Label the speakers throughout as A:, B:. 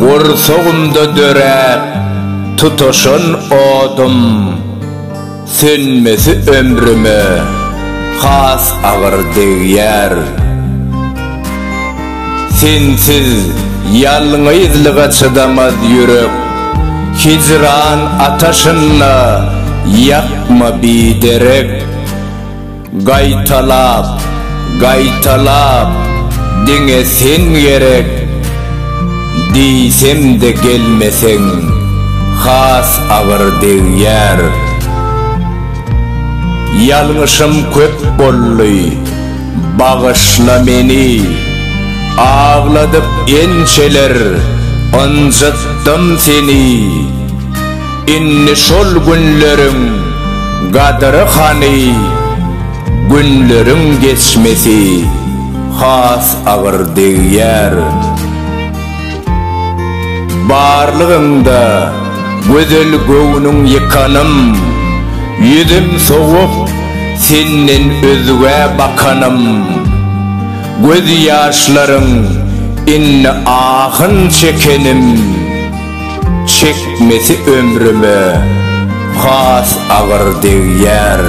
A: Gursagymda döräp tutaşan odum sönmesi ömrüme has agyr degýär. Sensiz ýalňyzlyga çydamaz ýürek hijran ataşynda ýakma biderek. Gaýtalap, gaýtalap, diňe sen gerek, Diýsem-de gelmeseň, has agyr degýär. Ýalňyşym köp boldy, bagyşla meni, Agladyp ençeler ynjytdym seni. Indi şol günleriň gadyry hany, günleriň geçmesi has agyr degýär. Barlygyňda gözel göwnüň ýykanym, ýüzüm sowup senden özgä bakanym, göz ýaşlaryň indi ahyn çekenim. Çekmesi ömrüme has agyr degýär.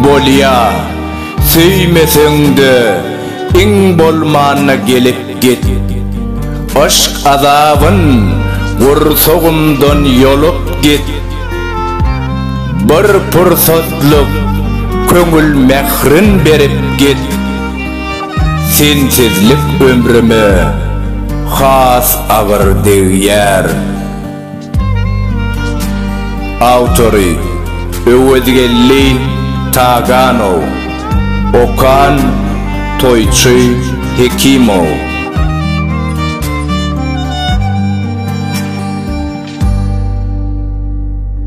A: Bolýa, söýmeseň-de, iň bolmanda gelip git. Yşk azabyn gursagymdan ýolup git. Bir pursatlyk köňül mährin berip git. Sensizlik ömrüme has agyr degýär. Awtory, Öwezgeldi Taganow. Okan, Toýçy Hekimow.